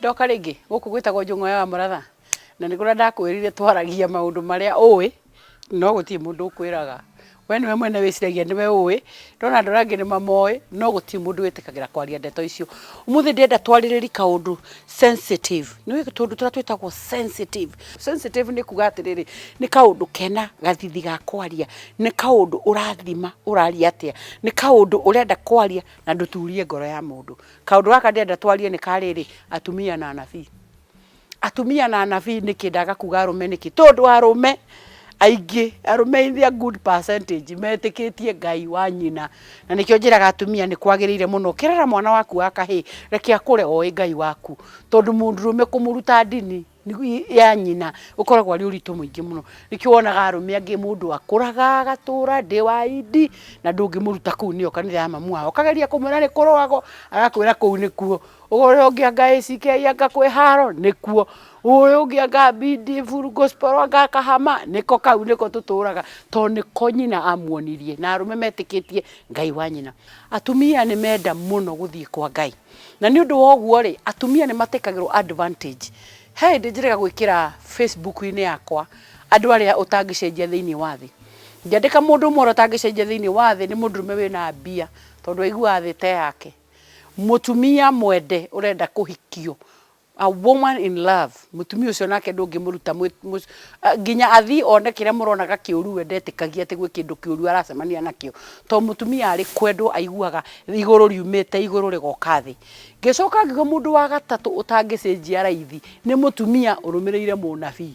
ndoka rĩngĩ gũkũ gwĩtagwo njũng'wa ya mũratha na nĩ kũrĩa ndakwĩrire twaragia maũndũ marĩa ũĩ no gũtirĩ mũndũ ũkwĩraga we nĩwe mwene wĩciragia nĩwe ũĩ ndona andũ arĩa angĩ nĩ mamoĩ no gũtirĩ mũndũ wĩtĩkagĩra kwaria ndeto icio ũmũthĩ ndĩrenda twarĩrĩri kaũndũ sensitive nĩ ũĩ tũndũ tũrĩa twĩtagwo sensitive Sensitive nĩ kuga atĩrĩrĩ, nĩ kaũndũ kena gathithi ga kwaria, nĩ kaũndũ ũrathima ũraria atĩa, nĩ kaũndũ ũrenda kwaria na ndũturie ngoro ya mũndũ. Kaũndũ gaka ndĩrenda twarie nĩ ka rĩrĩ, atumia na anabii. Atumia na anabii nĩkĩ ndaga kuga arũme nĩkĩ? Tondũ arũme aingĩ, arũme in their good percentage metĩkĩtie Ngai wa nyina. Na nĩkĩo njĩraga atumia nĩ kwagĩrĩire mũno ũkĩrera mwana waku wa kahĩĩ, reke akũre oĩ Ngai waku. Tondũ mũndũrũme kũmũruta ndini ya nyina ũkoragwo arĩ ũritũ mũingĩ mũno. Nĩkĩo wonaga arũme angĩ mũndũ akũraga agatũra ndĩ wa idi na ndũngĩmũruta kũu nĩyo kanitha ya mamu wao. Ũkageria kũmwĩra nĩ kũrũagwo agakwĩra kũu nĩkuo. Ũrĩa ũngĩ anga ACK anga kwĩ haro nĩkuo. Ũyũ ũngĩ anga bidi full gospel anga kahama nĩko kau nĩko tũtũraga tondũ nĩko nyina amuonirie. Na arũme metĩkĩtie Ngai wa nyina. Atumia nĩ menda mũno gũthiĩ kwa Ngai. Na nĩ ũndũ wa ũguo-rĩ, atumia nĩ matĩkagĩrwo advantage. He hĩndĩ njĩrĩga gwĩkĩra Facebook-inĩ yakwa andũ arĩa ũtangĩcenjia thĩinĩ wa thĩ. Ngĩandĩka mũndũ ũmwe ũrĩa ũtangĩcenjia thĩinĩ wa thĩ nĩ mũndũrũme wĩna mbia tondũ aiguaga thĩ ta yake. Mũtumia mwende ũrenda kũhikio A woman in love, mũtumia ũcio nake ndũngĩmũruta nginya athiĩ one kĩrĩa mũronaga kĩũru we ndetĩkagia atĩ gwĩ kĩndũ kĩũru aracemania nakĩo. To mũtumia arĩ kwendwo aiguaga igũrũ riumĩte igũrũ rĩgoka thĩ. Ngĩcoka ngiuga mũndũ wa gatatũ ũtangĩcenjia raithi nĩ mũtumia ũrũmĩrĩire mũnabii.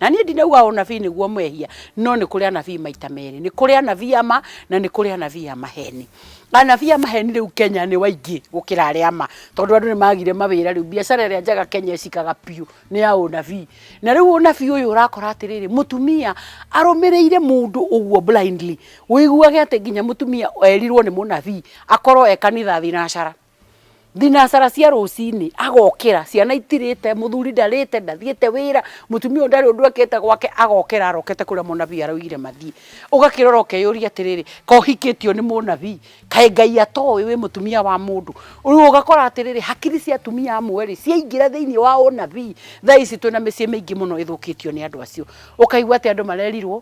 na niĩ ndinauga ũnabii nĩguo mehia no nĩ kũrĩ anabii maita merĩ nĩ kũrĩ anabii ama na nĩ kũrĩ anabii a maheni anabii a maheni rĩu kenya nĩ waingĩ gũkĩra arĩa ama tondũ andũ nĩ magire mawĩra rĩu biacara ĩrĩa njega kenya ĩcikaga biũ nĩ ya ũnabii na rĩu ũnabii ũyũ ũrakora atĩrĩrĩ mũtumia arũmĩrĩire mũndũ ũguo blindly ũiguage atĩ nginya mũtumia erirwo nĩ mũnabii akorwo e kanitha thinacara Thinacara cia rũcinĩ agokĩra, ciana itirĩte, mũthuri ndarĩte, ndathiĩte wĩra, mũtumia ũyũ ndarĩ ũndũ ekĩte gwake, agokĩra arokete kũrĩa mũnabii araugire mathiĩ. Ũgakĩrora ũkeyũria atĩrĩrĩ, kaĩ ũhikĩtio nĩ mũnabii? Kaĩ Ngai atoĩ wĩ mũtumia wa mũndũ? Rĩu ũgakora atĩrĩrĩ, hakiri cia atumia amwe rĩ, ciaingĩra thĩinĩ wa ũnabii, thaa ici twĩna mĩciĩ mĩingĩ mũno ĩthũkĩtio nĩ andũ acio. Ũkaigua atĩ andũ marerirwo.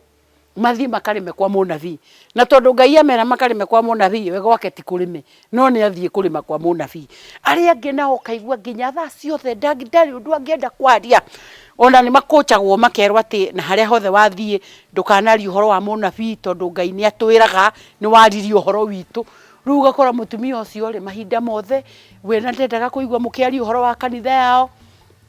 mathiĩ makarĩme kwa mũnabii. Na tondũ Ngai amera makarĩme kwa mũnabii, we gwake ti kũrĩme, no nĩ athiĩ kũrĩma kwa mũnabii. Arĩa angĩ nao ũkaigua nginya thaa ciothe ndangi- ndarĩ ũndũ angĩenda kwaria. Ona nĩ makũcagwo makerwo atĩ na harĩa hothe wathiĩ ndũkanarie ũhoro wa mũnabii tondũ Ngai nĩ atwĩraga nĩ waririe ũhoro witũ. Rĩu ũgakora mũtumia ũcio rĩ, mahinda mothe we nĩ ndendaga kũigua mũkĩaria ũhoro wa kanitha yao,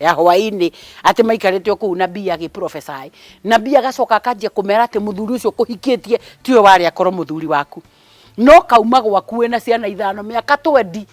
ya hwainĩ atĩ maikarĩte o kũu nabii agĩprophesy nabii agacoka akanjia kũmera atĩ mũthuri ũcio ũkũhikĩtie tiwe warĩ akorwo mũthuri waku no kauma gwaku wĩna ciana ithano mĩaka twendi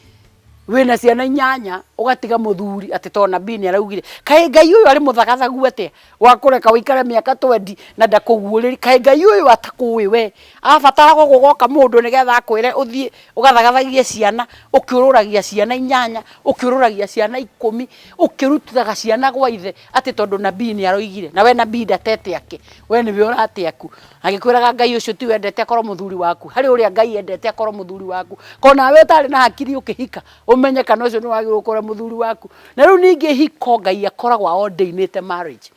wĩna ciana inyanya ũgatiga mũthuri atĩ to nabii nĩ araugire kaĩ ngai ũyũ arĩ mũthagathagu atĩa Wa kũreka ũikare mĩaka twendi na ndakũguũrĩri. Kaĩ Ngai ũyũ atakũũĩ wee? Abatara gũkũ goka mũndũ nĩ getha akwĩre ũthiĩ ũgathagathagie ciana, ũkĩũrũragia ciana inyanya, ũkĩũrũragia ciana ikũmi, ũkĩrutaga ciana gwa ithe atĩ tondũ nabii nĩ aroigire. Na wee nabii ndatete akĩ? Wee nĩ we ũrate aku. Agĩkwĩraga Ngai ũcio ti we endete akorwo mũthuri waku. Harĩ ũrĩa Ngai endete akorwo mũthuri waku. Ko nawe ũtarĩ na hakiri ũkĩhika Ũmenye kana ũcio nĩ wagĩrĩirwo kũrĩa mũthuri waku. Na rĩu ningĩ ihiko Ngai akoragwo a ordainĩte marriage.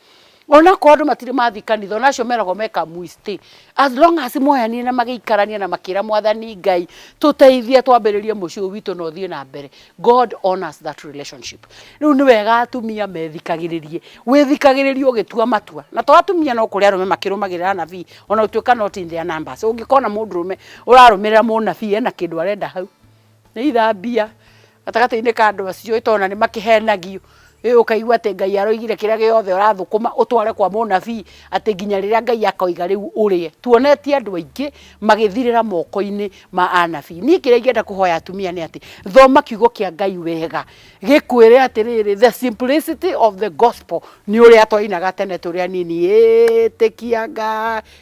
Onakorwo andũ matirĩ mathiĩ kanitha, ona acio meragwo meka mwĩstĩ. As long as moyanire na magĩikarania na makĩra mwathani Ngai, tũteithie twambĩrĩrie mũciĩ ũyũ witũ na ũthiĩ na mbere, God honours that relationship. Rĩu nĩ wega atumia methikagĩrĩrie. Wĩthikagĩrĩrie ũgĩtua matua. Na to atumia no kũrĩ arũme makĩrũmagĩrĩra anabii, ona gũtuĩka not in their numbers. Ũngĩkona mũndũrũme ũrarũmĩrĩra mũnabii ena kĩndũ arenda hau. Nĩ ithambia gatagatĩ-inĩ ka andũ acio tondũ ona nĩ makĩhenagio. Rĩu ũkaigua atĩ Ngai aroigire kĩrĩa gĩothe ũrathũkũma ũtware kwa mũnabii atĩ nginya rĩrĩa Ngai akoiga rĩu ũrĩe. Tuonetie andũ aingĩ magĩthirĩra moko-inĩ ma anabii. Niĩ kĩrĩa ingĩenda kũhoya atumia nĩ atĩ, thoma kiugo kĩa Ngai wega gĩkwĩre atĩrĩrĩ, the simplicity of the gospel nĩ ũrĩa twainaga tene tũrĩ anini, ĩtĩkia Ngai,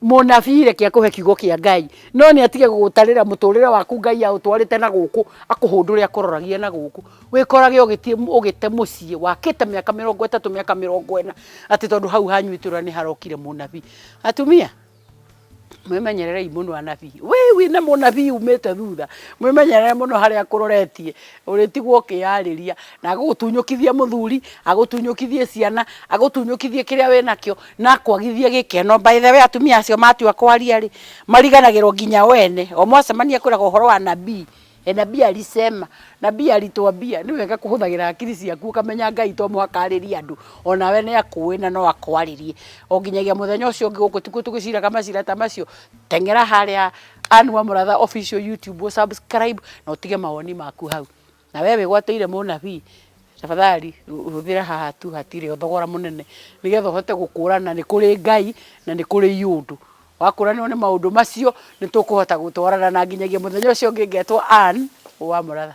Mũnabii reke akũhe kiugo kĩa Ngai, no nĩ atige gũgũtarĩra mũtũrĩre waku Ngai aũtwarĩte na gũkũ, akũhũndũre akũroragie na gũkũ. Wĩkorage ũgĩthiĩ ũgĩte mũciĩ wakĩte mĩaka mĩrongo ĩtatũ, mĩaka mĩrongo ĩna, atĩ tondũ hau hanyu itũra nĩ harokire mũnabii. Atumia, mwĩmenyererei mũno anabii. Wee wĩna mũnabii umĩte thutha, mwĩmenyerere mũno harĩa akũroretie. Ũrĩtigwo ũkĩyarĩria na agũtunyũkithie mũthuri, agũtunyũkithie ciana, agũtunyũkithie kĩrĩa wĩ nakĩo na akwagithie gĩkeno. By the way atumia acio matua kwaria rĩ, mariganagĩrwo nginya o ene. O mwacemania akwĩraga ũhoro wa nabii, e nabii alisema, nabii alituambia. Nĩ wega kũhũthagĩra hakiri ciaku ũkamenya Ngai to mũhaka arĩrie andũ, o nawe nĩ akũũĩ na no akwarĩrie. O nginyagia mũthenya ũcio ũngĩ gũkũ tikuo tũgĩciraga macira ta macio. teng'era harĩa Ann Wamuratha official YouTube ũ subscribe na ũtige mawoni maku hau na we wĩgwateire mũnabii tafadhali hũthĩra haha tu hatirĩ thogora mũnene nĩgetha ũhote gũkũrana nĩ kũrĩ Ngai na nĩ kũrĩ iũndũ wakũranĩrwo nĩ maũndũ macio nĩ tũkũhota gũtwarana na nginyagia mũthenya ũcio ũngĩ ngetwo Ann Wamuratha